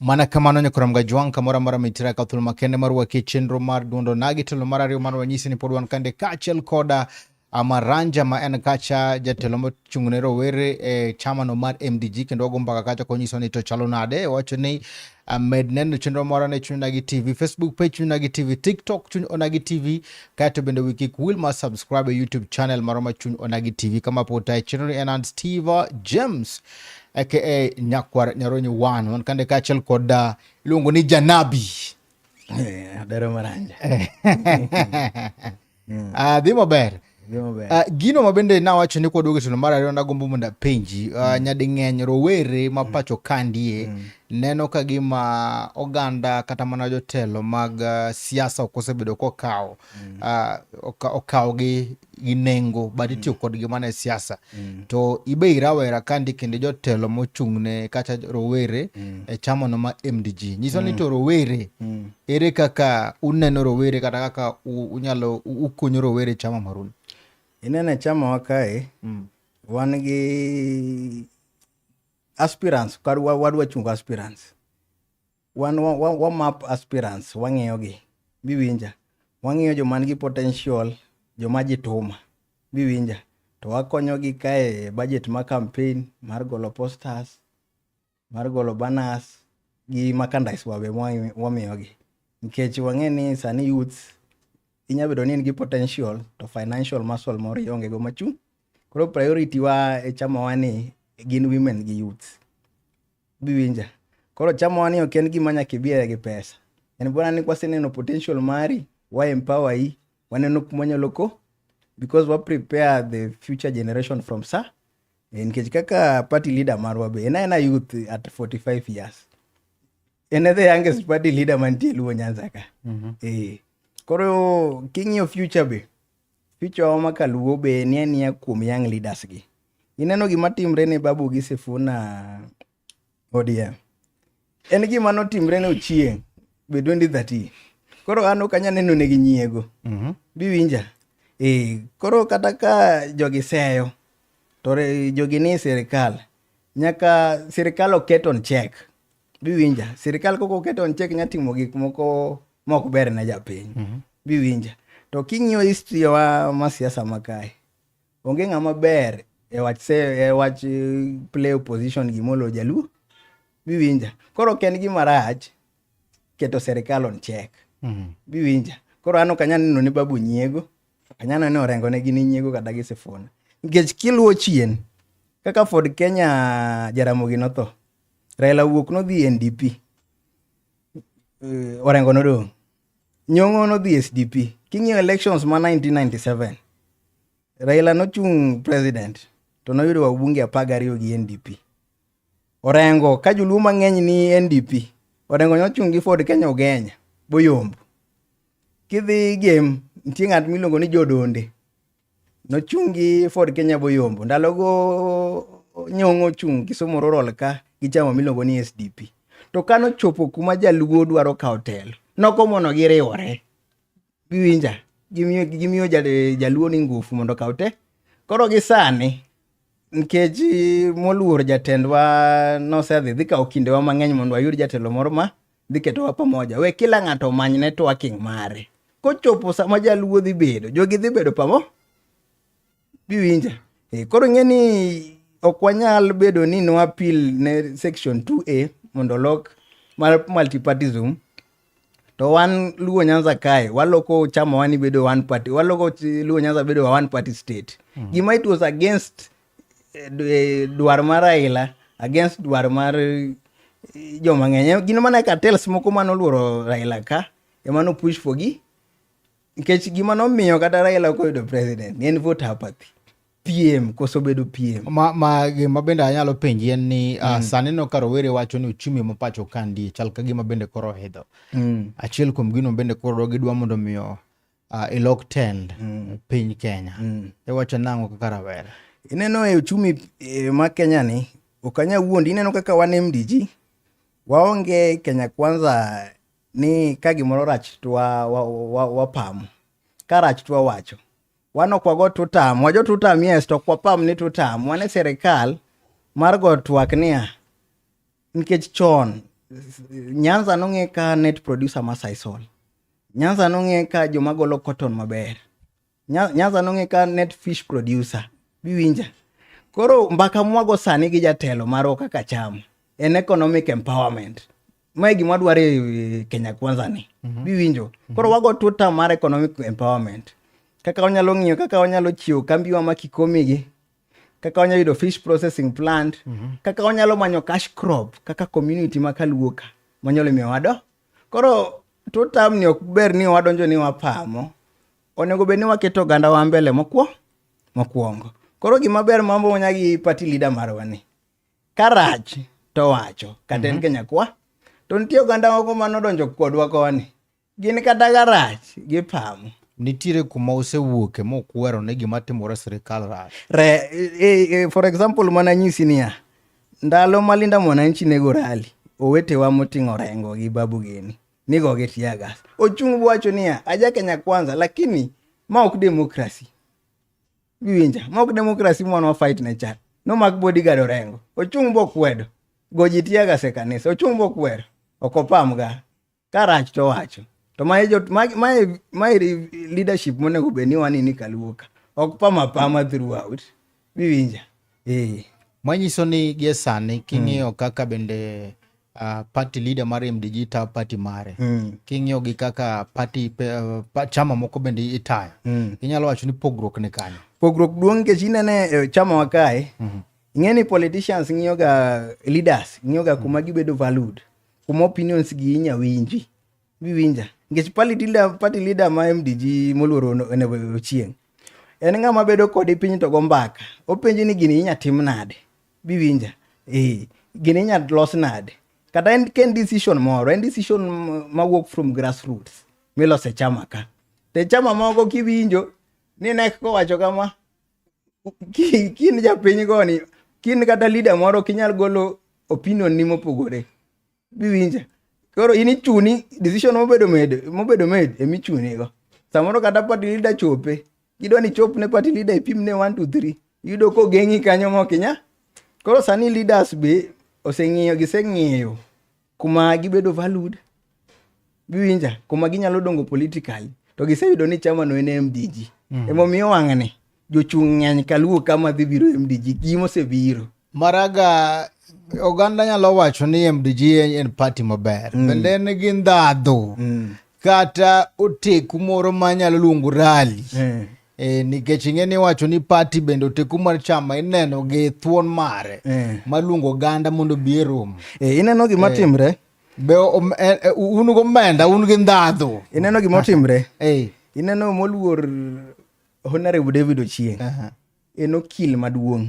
mana kamano nyakoram ga jwang kamora mara mitira ka thul makende mar wake chenro mar duondo nagi telo mar ariyo mar wanyisi ni pod wan kande kaachiel koda Amaranja ma en kacha jatelo mochung' ne rowere e chama no mar MDG kendo wago mbaka kacha konyiso ni to chalo nade wacho ni amed neno chenro moro ne chuny nagi tv facebook page chuny nagi tv tiktok chuny onagi tv kaeto bende wiki kuwil ma subscribe e youtube channel moro ma chuny onagi tv kama pota e chenro ni en an steve james aka nyakwar nyaronyi wan wan kande kaachiel kod uh, iluongo ni janabi eh, adero maranja mm. uh, dhi maber Uh, gino ma bende nawacho ni kwaduogo e tielo mar ariyo nagombo mondo apenji uh, mm. nyading'eny rowere ma mm. pacho kandie mm. neno ka gima oganda kata mana jotelo mag uh, siasa ok osebedo kokawo mm. uh, okawogi gi nengo but mm. itiyo mm. kodgi mana e siasa mm. to ibe irawera kandi kendo jotelo mochung'ne kata rowere mm. e chamono ma mdg nyiso ni mm. to rowere mm. ere kaka uneno rowere kata kaka unyalo ukunyo rowere e chama marun ineno e chamawa kae mm. wan gi aspirants wadwa chungo aspirants wan wa, wa, wa map aspirants wang'iyogi biwinja wang'iyo joma nigi potential joma jituma biwinja to wakonyogi kae budget ma campaign mar golo posters mar golo banners gi merchandise wabe wamiyogi nikech wang'e ni sani youths inya bedo ni in gi potential to financial muscle moro ionge go machung' koro priority wa e chamawa ni gin women gi youths biwinja koro chamowa ni ok en gima nyaka ibiere gi pesa en bwana ni kwaseneno potential mari wa empower yi waneno kuma wanyalo ko because wa prepare the future generation from sa eh, nikech kaka party leader marwa be en aena youth at 45 years en e the youngest party leader mantie luo nyanza ka mm -hmm. eh, koro king'iyo future be Picho ma kaluo be ni ania kuom young leaders gi. Ineno gima timre ne Babu gi Sifuna ODM. En gima notimre ne Ochieng be 2013. Koro an ok anyal neno ne gi nyiego. Mm -hmm. Biwinja. Eh, koro kata ka jogi seyo to jogi ni sirkal nyaka sirkal oket on check biwinja sirikal koko keto on chek nya timo gik moko mok ber ne japiny mm -hmm. biwinja to king'iyo history wa ma siasa makae onge ng'ama ber e wach se e wach e, play opposition gimolo jaluo biwinja koro ok en gima rach keto sirikal on chek mm -hmm. biwinja koro an ok anyal neno ne babu nyiego ok anyal neno ni orengo ne gin nyiego kata gi sifuna nikech kiluwo chien kaka ford kenya jaramogi notho Raila wuok nodhi e NDP. Eh, Orengo nodong'. Nyong'o nodhi e SDP. King'iyo elections ma 1997, Raila nochung' president to noyudo wabunge apar gariyo gi NDP. Orengo ka joluo mang'eny ni NDP, Orengo nochung' gi Ford Kenya Ogenya boyombo. Kidhi game nitie ng'at miluongo ni Jodonde Nochung' gi Ford Kenya Boyombo. Ndalogo nyong'o ochung' Kisumu Rural ka gi chama miluongo ni SDP. To ka nochopo kuma jaluo dwaro kawo telo, nokomono giriwore. Giwinja, gimiyo, gimiyo jal- jaluo ni ngufu mondo okaw te. Koro gi sani, nikech moluor jatendwa nosedhi dhi kawo kindewa mang'eny mondo wayud jatelo moro ma dhi ketowa pamoja we kila ng'ato omany networking mare kochopo sama jaluo dhi bedo jogi dhi bedo pamo biwinja e, koro ing'e ni ok wanyal bedo ni nwapil ne section 2a mondo olok mar multipartism to wan luo nyanza kae waloko chama wani bedo one party waloko luo nyanza bedo one party state mm. gima it was against eh, dwaro mar Raila against dwaro mar eh, joma ng'eny. Eh, gin mana cartels moko mane oluoro Raila ka ema no push for gi nikech gima nomiyo kata Raila ok oyudo president ne en vote apathy. piem koso bedo piem ma, ma gima bende anyalo penji en ni uh, mm. sani no ka rowere wacho ni uchumi ma pacho ka chal ka gima bende koro hidho mm. achiel kuom gino bende koro gidwa mondo miyo uh, e lok tend mm. piny Kenya mm. iwacho nang'o kaka rawera ineno e uchumi e, ma Kenya ni okanya wuondi ineno kaka wan MDG waonge Kenya kwanza ni ka gimoro rach to wapamo wa, wa, wa, wa ka rach to wawacho wan ok wago tutam wajo tutam yes to ok wapam ni tutam wan e sirikal mar go twak niya nikech chon nyanza nong'e ka net producer ma saisol nyanza nong'e ka joma golo cotton maber nyanza nong'e ka net fish producer biwinja koro mbaka mwago sani gi jatelo marwa kaka cham en economic empowerment mae gima dwaro e kenya kwanza ni mm -hmm. biwinjo mhm. koro wago tuta mar economic empowerment kaka wanyalo ng'iyo kaka wanyalo chiwo kambiwa ma kikomigi kaka wanyalo yudo fish processing plant mm -hmm. kaka wanyalo manyo cash crop kaka community ma kaluoka manyalo miyo wado koro totam ni ok ber ni wadonjo ni wapamo onego bed ni waketo oganda wa mbele mokwo mokwongo koro gima ber mambo wanya gi party leader marwa ni karach to wacho kata en mm -hmm. kenyakwa to nitie oganda moko manodonjo kodwa koni Gin kata garach gipamo. Nitiere kuma osewuoke mokwero ni gima timore sirikal rach. Re, e, e, e for example mana nyisi niya, ndalo ma Linda Mwananchi nego rali, owetewa moting'o rengo gi Babu Geni nigo gi tiagas. Ochung' wacho niya, aja Kenya kwanza lakini ma ok demokrasi. Giwinja, ma ok demokrasi mwana wa fight ne chat. No mak bodyguard orengo. Ochung' bokwedo. Goji tiagas e kanisa. Ochung' bokwero. Okopamga. Ka rach to wacho. To mae jot mae mae mae leadership monego bed ni wani ni kaluo ka. Ok pama pama throughout. Biwinja. Eh. Manyiso ni gie sani king'iyo mm. kaka bende uh, party leader mar MDG tayo party mare mm. king'iyo gi kaka party uh, chama moko bende itayo mm. inyalo wacho ni pogruok ni kanyo. Pogruok duong' nikech inene e, chama wa kae mm -hmm. ing'e ni politicians ng'iyoga leaders ng'iyoga kuma mm. gibedo valued kuma opinions gi inya winji biwinja nikech party leader ma mdg moluoro ochieng' en ng'ama bedo kodi piny to go mbaka openji ni gini inya tim nade biwinja eh, gini inya los nade kata en ken decision moro en decision mawuok from grassroots milose chama ka te chama moko kiwinjo ni nek kowacho kama ki kin japiny goni kin kata leader moro kinyal golo opinion ni mopogore biwinja koro in ichuni decision mobedo made mobedo made emi chuni go samoro kata party leader chope gidwa ni chop ne party leader ipim ne 1 to 3 yudo ko gengi kanyo mo kinya koro sani leaders be oseng'iyo giseng'iyo kuma gibedo valued giwinja kuma ginyalo dongo politically to giseyudo ni chama no en mdg mm. emomiyo wang'ni jochung' ng'eny kaluwo kama dhi biro mdg gima osebiro maraga oganda nyalo wacho ni mdg en party maber mm. bende en gi ndhadhu mm. kata oteku moro manyalo luongo rali mm. E, nikech ing'e ni wacho ni pati bende oteku mar chama ineno gi thuon mare e. Eh. maluongo ganda mondo bi e romo e, eh, ineno gima e. timre be um, e, e, un gomenda un gi ndhadhu ineno gima otimre e. ineno moluor honorable david ochieng uh -huh. en okil maduong'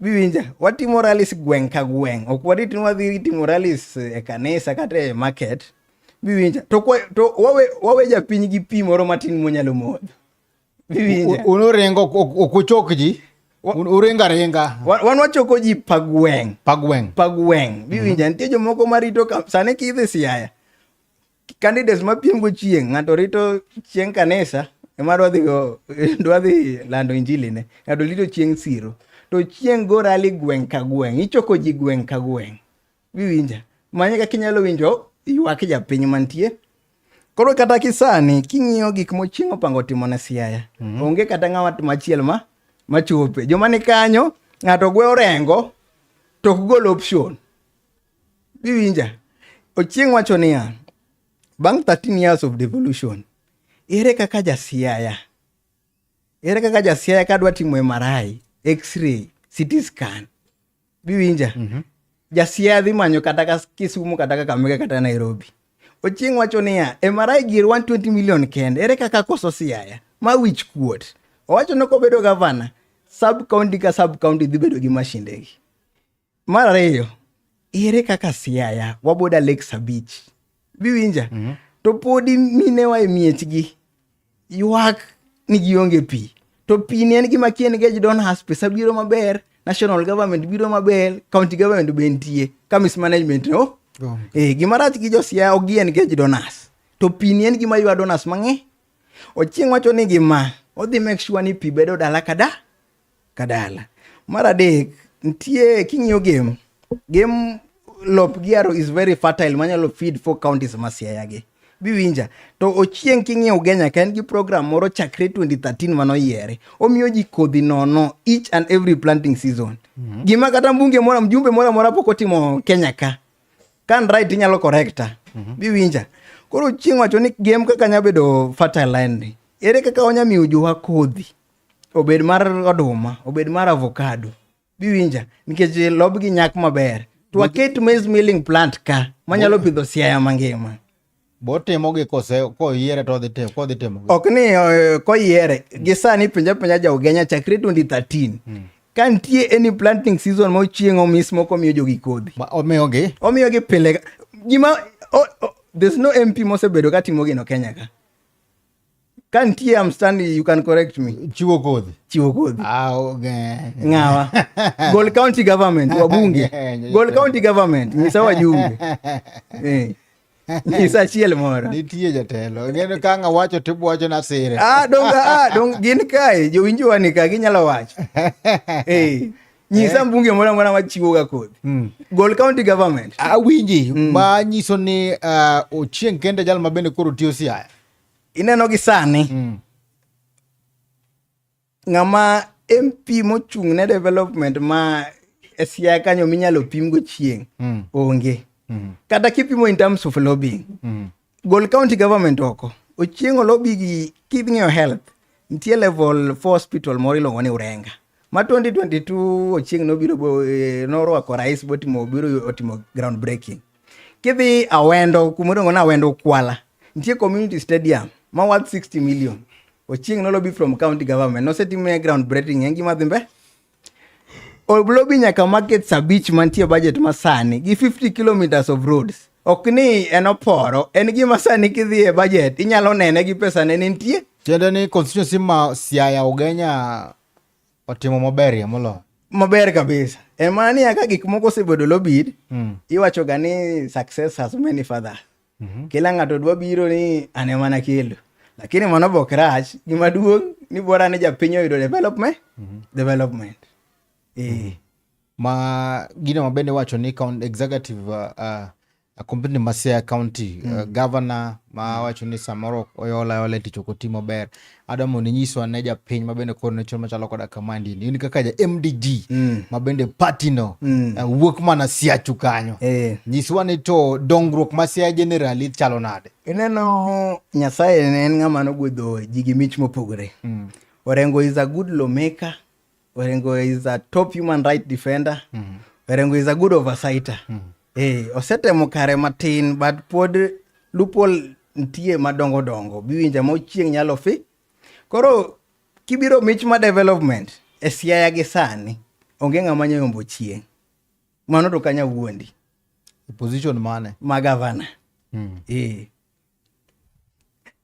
Biwinja, watimo rallies gweng' ka gweng'. Ok warit ni wadhi timo rallies e kanisa kata e market. Biwinja, to, kwa, to wawe, wawe japiny gi pi moro matin monyalo modho. Biwinja. Un uringo, ok uchok ji. Uringo aringa. Wan wachoko ji pa gweng'. Pa gweng'. Pa gweng'. Biwinja, mm -hmm. nitie jomoko marito, sani kidhi Siaya, candidates ma piem go chieng' ng'ato rito chieng' kanisa ema dwadhi go dwadhi lando injili ne ng'ato rito chieng' siro to chieng' go rali gweng' ka gweng' ichoko ji gweng' ka gweng' biwinja manye kaka inyalo winjo ywak japiny mantie koro kata kisani king'iyo gik mochieng' opango timo ne siaya mm -hmm. onge kata ng'awa machiel ma machope joma ni kanyo ng'ato gwe orengo to ok gol option Biwinja, Ochieng wacho niya, bang' 13 years of devolution, ere kaka jasiaya? Ere kaka jasiaya kadwa timo MRI, x-ray, CT scan? Biwinja, mm -hmm. jasiaya dhi manyo kata ka Kisumu kata ka Kakamega kata Nairobi. Ochieng wacho niya, MRI gir 120 million kende, ere kaka koso siaya? Ma wich kuot. Owacho ni kobedo gavana, sub county ka sub county dhi bedo gi mashindegi. Mar ariyo, ere kaka Siaya waboda Lake Sabich biwinja mm -hmm. to podi minewa e miechgi ywak ni gionge pi to pi ni en gima kien gej don has pesa biro maber national government biro maber county government be nitie ka mismanagement no oh. e, gima rach gi josiaya ok gien gej donas to pi ni en gima ywa donas mang'e ochieng' wacho ni gima odhi make sure ni pi bedo dala kada kadala. Mar adek, nitie king'iyo game, game lop giaro is very fertile manyalo feed four counties ma Siaya gi. Biwinja. To Ochieng king'iyo Ugenya ka en gi program moro chakre 2013 mano yiere. Omiyo ji kodhi nono each and every planting season. Mm -hmm. Gima kata mbunge mora mjumbe mora mora pok otimo Kenya ka. Kan right inyalo correcta. Mm -hmm. Biwinja. Koro Ochieng wacho ni game kaka nyabedo fertile land. Ere kaka onya miyo jowa kodhi? obed mar oduma obed mar avocado biwinja nikech lobgi nyak maber to waket maize milling plant ka manyalo pidho siaya mangima botimogi kose koyiere to odhi timo kodhi timo ok ni eh, koyiere gi sani pinja pinja ja ugenya chakre 2013 hmm. ka nitie any planting season mochieng omis moko miyo jogi kodhi omiyogi omiyogi pile gima there's no mp mosebedo ka timo gino kenya ka kantie am standing you can correct me chiwo kodhi chiwo kodhi ah, okay. ngawa gol county government wabunge gol county government nyisa wajunge eh. nyisa achiel moro nitie jatelo ngeno ka nga wacho to ibwacho na sire ah donga ah dong gin kae jowinjowa ni ka ginyalo wacho eh nyisa eh. mbunge moro amora machiwoga kodhi mm. gol county government awinji mm. ma nyiso ni uh, ochieng kende jal ma bende koro tiyo siaya ineno gi sani mm. ng'ama mp mochung' ne development ma e siaya kanyo minyalo pim go chieng' mm. onge mm. kata kipimo in terms of lobbying mm. Gol county government oko. Ochieng' olobi gi kidng'iyo health. Nitie level 4 hospital moro iluongo ni Urenga. Ma 2022 Ochieng' nobiro bo- eh, norwako rais botimo obiro otimo ground breaking. Kidhi Awendo kuma iluongo ni Awendo Kwala. Nitie community stadium ma worth 60 million. Ochieng' nolobi from county government. Nosetime ground breaking en gima dhi mbele. Olobi nyaka markets abich mantie budget masani gi 50 kilometers of roads. Ok ni en oporo, en gima sani kidhi e budget inyalo nene gi pesa ne nitie. Tiende ni constituency ma Siaya Ugenya otimo maber ya molo. Maber kabisa. En mana ni aka gik moko osebedo lobid, mm. iwacho ga ni success has many fathers. mm -hmm. kila ng'ato dwa biro ni ane mana kelo lakini mano bok rach gima duong' ni bora ni japiny oyudo development mm -hmm. development e. mm -hmm. ma gino ma bende wacho ni count executive uh, uh, company ma Siaya County mm. uh, governor ma wacho ni samoro oyola yola e tich ok oti maber adwa mondo inyiswa ne japiny mabende koro ne chon machalo koda kamandi ni in kaka ja mdg mm. mabende patino mm. uh, wuok mana siachu kanyo eh. nyiswa ni to dongruok ma sia generali chalo nade ineno nyasaye ne en ng'ama nogwedho ji gi mich mopogore mm. orengo is a good lawmaker Orengo is a top human right defender. Mm. Orengo is a good oversighter. Mm. Eh, osetemo kare matin but pod loophole nitie madongo dongo biwinja ma ochieng' nyalo fi. Koro kibiro mich ma development e siaya gi sani onge ng'ama nyayombo chieng'. Mano to kanya wuondi. E position mane? Ma gavana. Mm. Eh.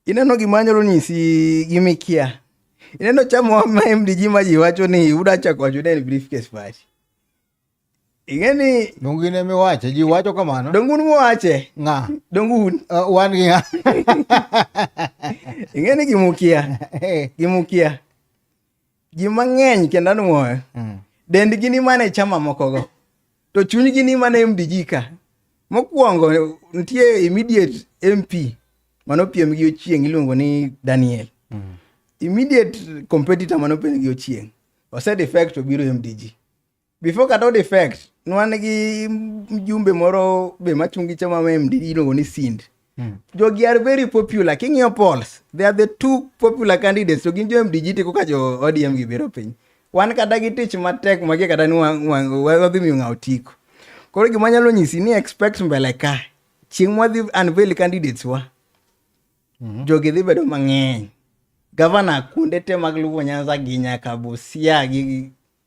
Ineno gima anyalo nyisi gi mikia. Ineno chamo ma MDG ma ji wacho ni uda chako wacho ni briefcase party. Ing'eni dongu ne mi wache ji wacho kamano. Dongu ne wache. Nga. Dongu un. Uh, wan gi nga. Ing'eni gimukia. Eh. Gimukia. ji mang'eny kendo anwoyo mm. dendgi ni mana e chama mokogo to chunygi ni mana mdg ka mokwongo nitie immediate mp mano piem gi ochieng iluongo ni daniel mm. immediate competitor mano piem gi ochieng osedefect obiro mdg Before kata od effect, nwan gi mjumbe moro be machung' gi chama ma MDD iluongo ni Sind. Mm. Jogi are very popular. King'iyo polls, they are the two popular candidates. To gin jo MDG tiko ka jo ODM gibiro piny. Wan kata gi tich matek magie kata ni wadhi miyo ng'aw tiko. Koro gima nyalo nyisi ni expect mbele ka. Chieng' mwadhi unveil candidates wa. Mm -hmm. Jogi dhi bedo mang'eny. Gavana kuonde te mag Luo Nyanza gi nyaka Busia gi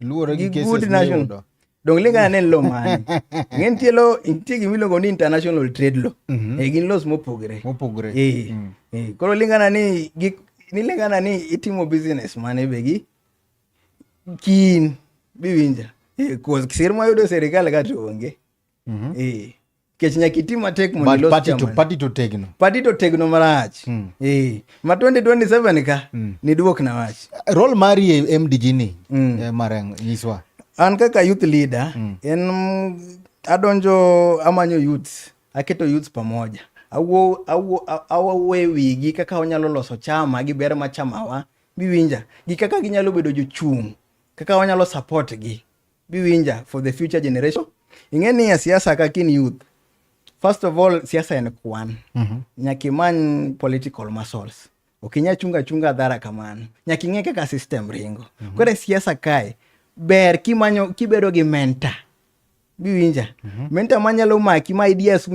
Luwore gi good national. Donge lingana ne lo mane? Ng'en tie lo nitie gima iluongo ni international trade law. Mm -hmm. E gin laws mopogre. Mopogre. Eh. Mm. Eh, koro lingana ni gik ni lingana ni itimo business mane be gi kin biwinja. Eh, kuos kisir ma yudo serikal ka to onge. Mhm. Eh. Kech nyaka iti matek mondo But ilos party to- chama. party to tegno. Party to tegno marach. Mm. Eh. Ma 2027 ka Mm. niduok na wach. Role mari e e MDG ni Mm. eh, Marang nyiswa. An kaka youth leader Mm. en mm, adonjo amanyo youths, aketo youths pamoja. Awuo awuo a- awuoyo wigi kaka wanyalo loso chama gi ber ma chamawa biwinja gi kaka ginyalo bedo jochung' kaka wanyalo support gi. biwinja for the future generation ing'e ni e siasa kaka in youth first of all siasa en kwan mm -hmm. nyaka imany political muscles okinya chunga chunga dhara kamano nyaka ing'e kaka system ringo mm -hmm. kore siasa kae ber kimanyo kibedo gi mentor biwinja mm -hmm. mentor manyalo maki ma ideas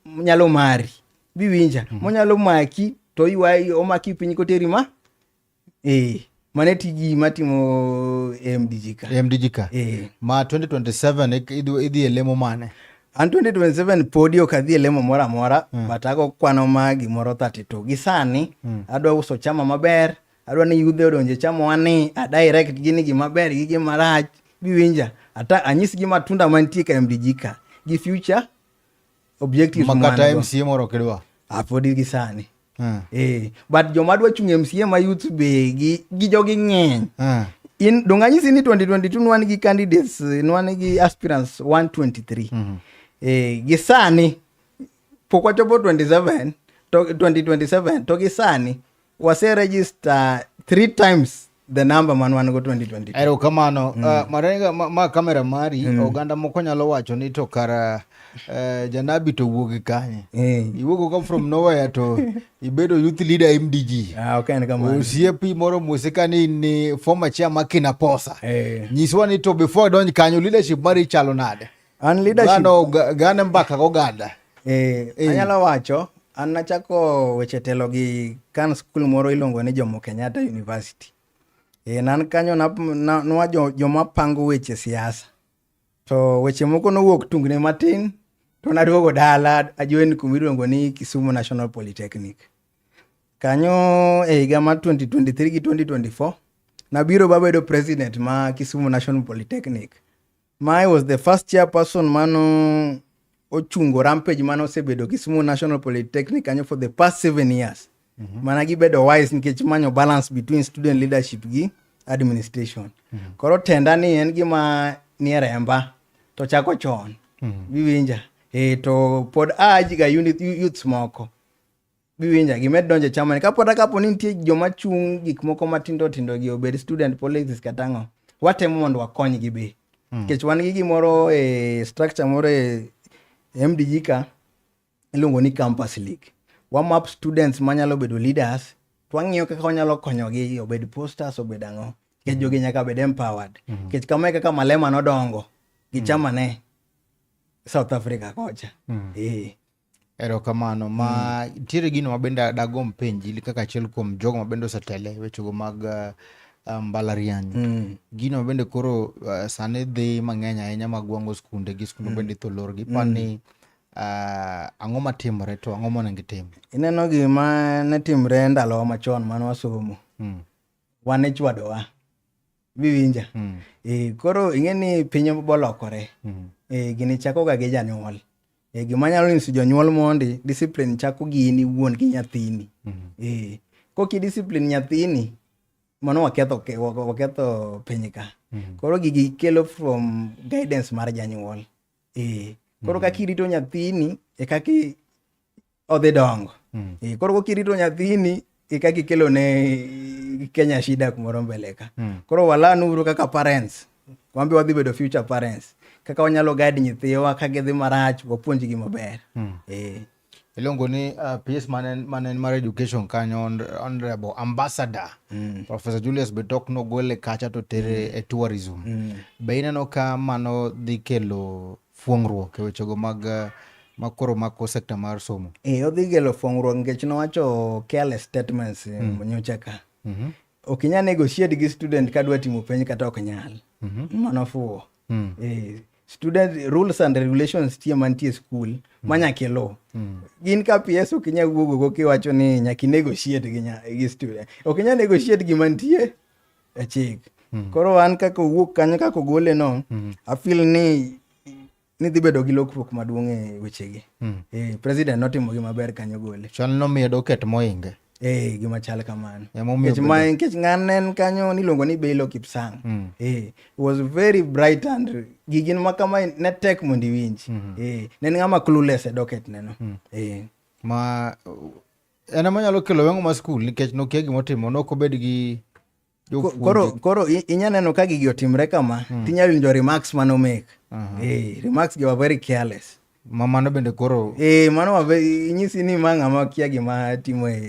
nyalo mari biwinja mm -hmm. monyalo maki to ywayi omaki piny koteri ma eh mane tiji matimo mdg ka mdg ka eh ma 2027 idhi e lemo mane an 2027 podi ok adhi e lemo moro amora mm. but ago kwano ma gimoro 32 gi sani mm. adwa uso chama maber adwa ni yudhe odonje chama wani adirect gi ni gima ber gi gima rach biwinja ata anyis gi matunda mantie ka mdg ka gi future objective makata mca moro kidwa apodi gi sani hmm. eh but joma dwa chung mca ma youth be gi gi jogi ng'eny hmm. in donganyisi ni 2022 nwan gi candidates nwan gi aspirants 123 hmm. eh gi sani pok wachopo 27 to 2027 to gi sani wase register three times the number man wan go 2022 ero kamano mm. uh, marenga ma, ma kamera mari mm. oganda moko nyalo wacho ni to kara uh, janabi to wuogi kanye hey. iwuogo come from nowhere to ibedo youth leader mdg ah, okay, osiepi moro musika ni ni former chairman kinaposa hey. nyiswa ni to before donj kanyo leadership mari chalo nade An leadership. Gano gane mbaka go gada. Eh, eh, anyalo wacho an nachako weche telo gi kan skul moro iluongo ni Jomo Kenyatta University. Eh, nan kanyo na, na, nwa jo, joma pango weche siasa. To weche moko nowuok tungni matin to naduogo dala ajoin kuma iluongo ni Kisumu National Polytechnic. Kanyo e higa ma 2023 gi 2024 nabiro babedo president ma Kisumu National Polytechnic. Mae was the first chairperson mano ochungo rampage mane osebedo Kisumu National Polytechnic kanyo for the past seven years mm -hmm. mana gibedo wise nikech manyo balance between student leadership gi administration mm -hmm. koro tenda ni en gima nie remba to chako chon mm -hmm. biwinja e to pod ajiga unit youths moko giwinja gimed donjo e chamani kapo ata kapo ni nitie joma chung' gik moko matindo tindo gi obed student politics kata ang'o watemo mondo wakonygi be hmm. nikech mm. wan gi gimoro e structure moro e mdg ka iluongo ni campus league wamap students manyalo bedo leaders to wang'iyo kaka wanyalo konyogi obed posters obed ang'o nikech hmm. jogi nyaka bed empowered hmm. nikech mm -hmm. kama e kaka malema nodongo gi chama ne mm. south africa kocha mm. e. Erokamano. Ma mm. nitiere gino ma bende dagom penji kaka achiel kuom jogo ma bende osetele wechego mag uh, uh, mbalariany. Mm. Gino ma bende koro uh, sani dhi mang'eny ahinya mag wango skunde gi skunde mm. bende itho lor gi pa mm. ni uh, ang'o matimore to ang'o monego itim? Ineno gima ne timre ndalowa machon mane wasomo. Mm. Wan ichwadowa. Biwinja. Mm. E, koro ing'e ni piny bolokore. Mm. E, gini chakoga gi janyuol. E gima nyalo nyiso jonyuol mondi, discipline chako gi in iwuon gi nyathini. Mm -hmm. E, koki discipline nyathini, mano waketho, waketho piny ka. Mm -hmm. Koro gigi kelo from guidance mar janyuol. E, koro mm -hmm. kaka irito nyathini, e kaka odhi dongo mm. e, koro kokirito nyathini eka kikelo ne Kenya shida kumoro mbele ka mm. koro walanuru kaka parents wambe wadhi bedo future parents kaka wanyalo guide nyithiwa ka gidhi marach wapuonjgi maber mm. e. iluongo ni uh, PS Manen mar Education kanyo Honorable Ambassador mm. Professor Julius Betok nogole kacha to tere mm. e tourism mm. be ineno ka mano dhi kelo fuong'ruok e wechego mag ma koro mako sekta mar somo. Eh, odhi gelo fuong'ruok nikech nowacho careless statements eh, mm. nyocha ka. Mm -hmm. Ok inyal negotiate gi student kadwa timo penj kata ok nyal. Mm -hmm. Mano fuwo. Mm. Eh, student rules and regulations tie mantie skul mm. ma nyaka iluw mm. gin ka ps ok inyal wuogogo kiwacho ni nyaka inegotiate gi, gi student ok inyal negotiate gi mantie e chik mm. koro an kaka owuok kanyo kaka ogole no mm. afil ni ni dhi bedo gi lokruok maduong' e wechegi mm. e, president notimo gi maber kanyo gole chal nomiyo doket moinge e, gima chal kamano nikech ng'an en kanyo niluongo ni belo kipsang mm. e, was very bright and gigin ma kama ne tek mondo iwinji mm. e, ne en ng'ama clueless e doket neno mm. e. ma en ema nyalo kelo weng'o ma skul nikech nokia gima otimo nok obed gi koro koro inya neno ka gigi otimre kama hmm. tinya winjo remarks mane omek eh, remarks gi were very careless ma mano bende koro eh, mano wabe inyisi ni ma ng'ama kia gima timo e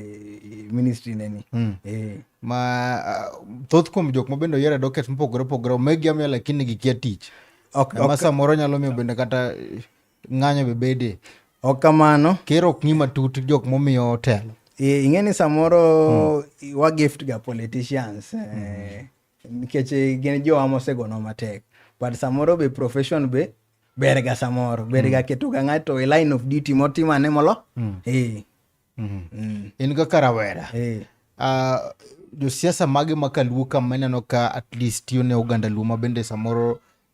ministry neni hmm. eh. ma ah, thoth kuom jok ma bende oyiero doket mopogore opogore omegi amiya lakini gikia tich ok, ok, samoro nyalo miyo bende kata Ng'anyo be bede. Ok kamano. Ker ok ng'i matut jok momiyo otelo. Eh, ing'e ni samoro hmm. wa gift ga politicians eh, hmm. nikech eh, gin jowa mosegono matek but samoro be profession be ber ga samoro ber ga hmm. keto ga ng'ato e line of duty motimane molo hmm. eh. hmm. in kaka rawera eh. uh, josiasa mage ma kaluo ka maneno ka at least tiyo ne oganda luo ma bende samoro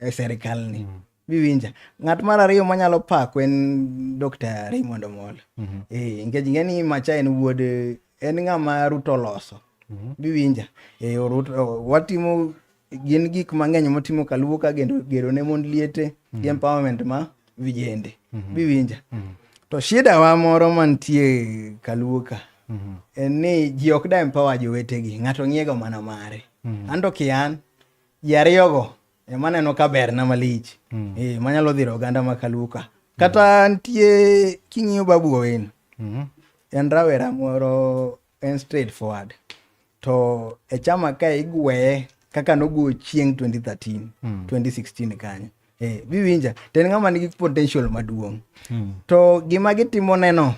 e serikal ni mm. biwinja ng'at mar ariyo manyalo pako en dr raymond omol mm -hmm. e, eh, nikech ing'e ni macha en wuod en ng'ama ruto oloso mm -hmm. biwinja e, eh, orut, o, watimo gin gik mang'eny motimo kaluwo ka gero ne mond liete mm -hmm. gi mhm. empowerment ma vijende mm -hmm. biwinja mm -hmm. to shida wa moro mantie kaluwo ka mm -hmm. en ni ji ok da empower jowetegi ng'ato ng'iego mana mare mm -hmm. anto kian ji ariyogo ema neno ka berna malich mm. e, manyalo dhiro oganda ma kaluka kata mm. nitie king'iyo babu owino mm. en rawera moro en straight forward to e chama ka igweye kaka nogo chieng 2013 mm. 2016 kanyo e, biwinja to en ng'ama nigi potential maduong' mm. to gima gitimoneno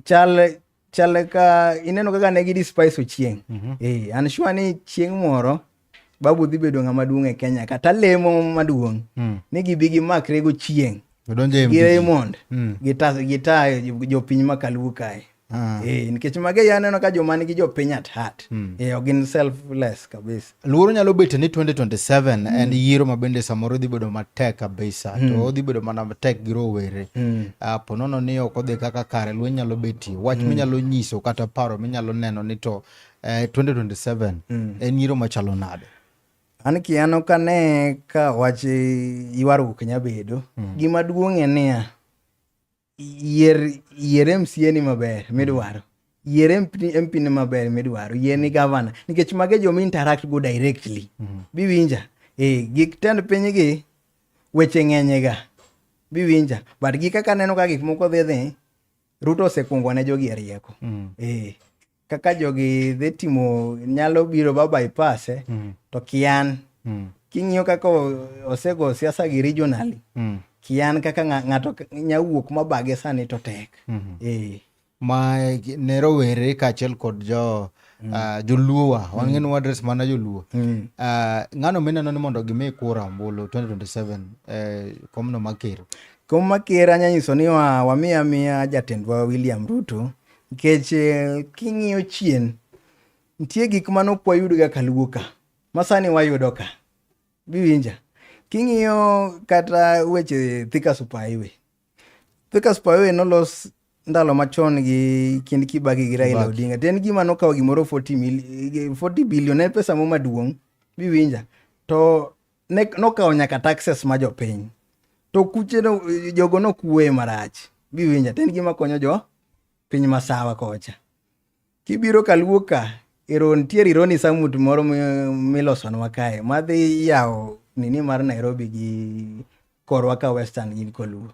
chal chal ka ineno kaka ne gidi spice ochieng mm -hmm. e, an sure ni chieng moro babu dhi bedo ng'ama duong' e kenya kata lemo maduong' mm. ni gibi gimakre go chieng' gi raymond mm. gita jopiny ma kaluo kae Ah. Eh, nikech mage yaneno ka joma nigi jopiny at heart mm. eh, gin selfless kabisa Luoro nyalo bedo ni 2027 mm. en yiero ma bende samoro dhi bedo matek kabisa mm. to odhi bedo mana matek gi rowere mm. uh, ponono ni ok odhi kaka kare lweny nyalo betie wach mm. minyalo nyiso kata paro minyalo neno ni to uh, eh, 2027 mm. en yiero machalo nade an kiano ka ne ka wach ywaruok nya bedo mm. gima duong' en niya yier yier MCA ni maber midwaro yier MP ni maber midwaro yier ni gavana nikech mage joma interact go directly mm -hmm. biwinja eh gik tend piny gi weche ng'enye ga biwinja but gi kaka neno ka gik moko dhi dhi Ruto osekuongo ne jogi e rieko mm. eh kaka jogi dhi timo nyalo biro ba bypass eh, mm. to kian mm. king'iyo kaka osego siasa gi regionally mm. kian kaka ng'ato nyawuok mabage sani to tek mm -hmm. eh. ma ne rowere kaachiel kod jo mm. uh, joluo wa mm. wang'e ni wadres mana joluo mm. uh, ng'ano mineno ni mondo gimi kura ombulu 2027 eh, komno maker kom maker anyanyiso ni wa, wamiya miya jatendwa william ruto Nikech eh, king'iyo chien, nitie gik mane ok wayudga ka luo ka, ma sani wayudo ka. Giwinja. King'iyo kata weche Thika Super Highway. Thika Super Highway nolos ndalo machon gi kind Kibaki gi Raila Odinga. To en gima nokawo gimoro 40 mil, 40 billion en pesa mo maduong'. Biwinja. To ne nokawo nyaka taxes ma jopiny to kuche no jogo nokuwe marach giwinja to en gima konyo jo piny masawa kocha kibiro kaluo ka ero nitiere ironi samut moro milosonwa kae madhi yawo nini mar nairobi gi korwa ka western gin koluo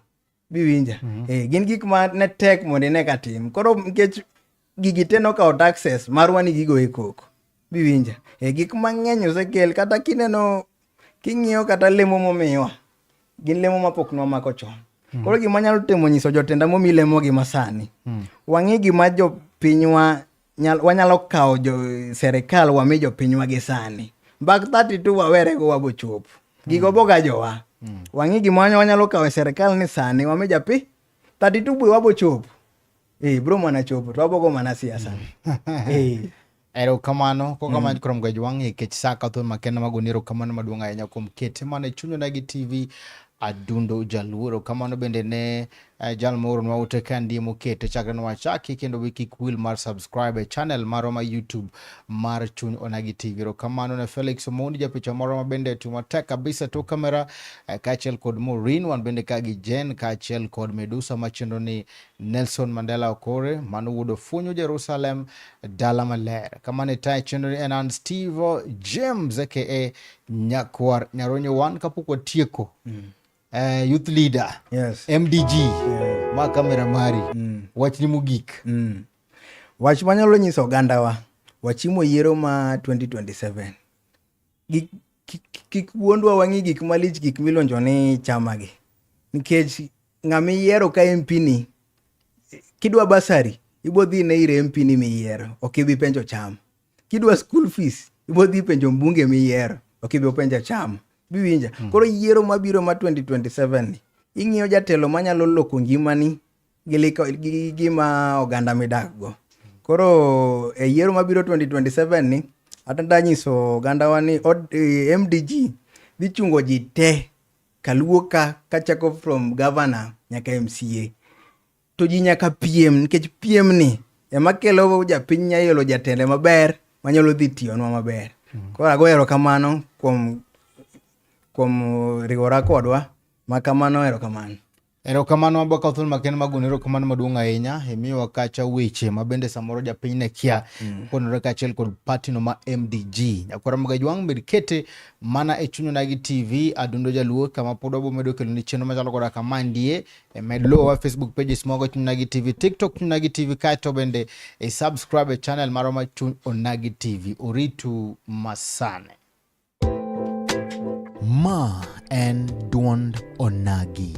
biwinja mm -hmm. eh, gin gik ma ne tek mondo ine ka tim koro nikech gigi te nokawo taxes marwa ni gigo e koko biwinja eh, gik mang'eny osekel kata kineno king'iyo kata lemo momiwa gin lemo mapok nwamako chon mm. koro gima nyalo temo nyiso jotenda momi lemogi masani mm. wang'e gima jopinywa nyal, wanyalo kawo jo serikal wami jopinywa gi sani bak 32 wawerego wabochop gigo boga jowa mm. wang'i gima wanyalo kawo e serikal ni sani wami japi 32 bwe wabochop e eh, bro mana chopo to wabogo mana siasa mm. eh. erokamano kokamano mm. kurom gwaj wang'e kech sa ka thuon makenda magoni erokamano maduong' ahinya kuom kete mana e chunyonagi tv adundo jaluoro kamano bende ne Eh, jal moro nwa ute ka ndiye mokete chakre nwa chaki kendo be kik wil mar subscribe e channel marwa ma YouTube mar Chuny Onagi TV. Erokamano ne Felix Omondi japicha moro ma bende tiyo matek kabisa to kamera eh, kaachiel kod Maureen wan bende ka gi Jen kaachiel kod Medusa machendo ni Nelson Mandela Okore mano wuod Ofunyu Jerusalem dala maler. Kamano itaye chenro ni en an Steve James aka Nyakwar Nyaronyo wan kapok watieko mm. uh, youth leader yes. mdg yeah. ma kamera mari mm. wachni mogik mm. wach manyalo nyiso ogandawa wachimo yiero ma 2027 gik kik wuondwa wang'i gik malich gik milonjo ni chamagi nikech ng'ama iyiero ka MP ni kidwa basari ibo dhi ne ir MP ni miyiero ok ibi penjo cham kidwa school fees ibo dhi penjo mbunge miyiero ok ibi openja chama biwinja mm. koro yiero mabiro ma 2027 ni ing'iyo jatelo manyalo loko ngimani gi gima oganda midakgo koro e yiero mabiro 2027 ni atanda nyiso ogandawa ni e, mdg dhi chungo ji te kaluo ka kachako from governor nyaka mca to ji nyaka piem nikech piem ni ema kelo japiny nyayelo jatende maber manyalo dhi tiyonwa maber mm. koro ago erokamano kuom kuom riwora kodwa ma kamano erokamano erokamano abaka thul maken magoni erokamano maduong' ahinya imiyowa kacha weche ma bende samoro japiny ne kia mm. konore kaachiel kod patino ma mdg nyakwara magajwang' med kete mana e chunyonagi tv adundo jaluo kama pod wabomedo kelo ni chenro machalo koda kama ndie e med luwowa facebook pages mogo chuny nagi tv tiktok chuny nagi tv kaeto bende e subscribe e channel marwa ma chuny onagi tv oritu masane ma en duond onagi